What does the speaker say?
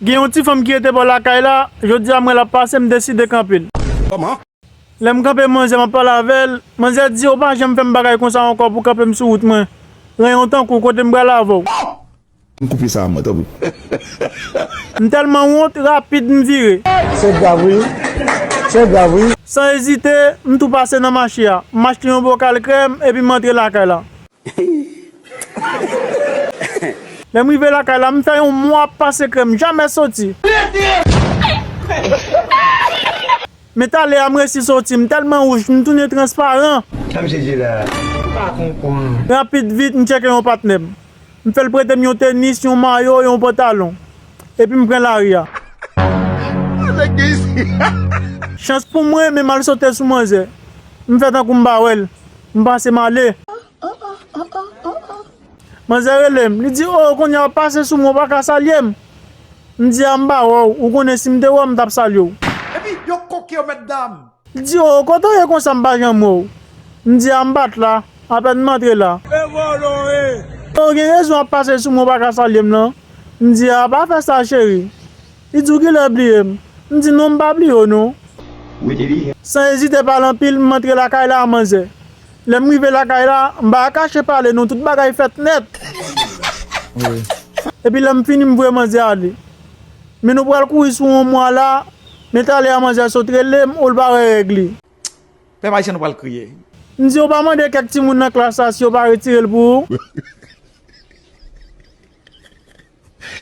Gen yon ti fanm ki rete bò lakay la, jodi a m wè l ap pase, m deside kanpe l. Kòman? Lè m kanpe manzè m ap pale avè l, manzè di, ou pa janm fè m bagay konsa ankò pou kanpe m sou wout mwen. Ranyon tankou w, kote m pral avè w? Oh! M koupe sa a mwen tanpri. M tèlman wont, rapid m vire. Se grav wi, se grav wi. San ezite, m tou pase nan mache a, m achte yon bokal krèm epi m antre lakay la. Lèm rive lakay la, m fè yon mwa ap pase krèm, m jamè soti. Men talè a m resi soti, m tèlman wouj, m tounen transparan. Rapid vit, m tcheke yon patnè m. M fè l prete m yon tenis, yon mayo, yon pantalon. Epi m pran lari a. Chans pou mwen, men m al sote sou manzè. M fè tankou m pa wè l. M pase m ale. Manzè rele m, li di, O, kounye a w pase sou mwen, ou pa ka salye m. M di a, M pa wè w, ou konnen si m te wè w m t ap salye w. Epi, yo koke yo, mètdam. Li di, O, kote w ye konsa m pa janm wè w? M di a, M pa t la, apèn m antre la. O, gen rezon w ap pase sou mwen, ou pa ka salye m nan. M di a, Pa fè sa, cheri. Li di ou ki lè bliye m. M di non m pa bliye w non. San ezite pale anpil m antre lakay la a manzè. Lè m rive lakay la, m pa ka kache pale non tout bagay fèt nèt. Epi lè m fini m voye manzè ale. Men nou pral kouri sou on mwa la a, men talè a manzè sot rele m ou l pa wè règ li. Pèp Ayisyen nou pral kriye. M di ou pa mande kèk timoun nan klas la si yo pa retire l pou ou.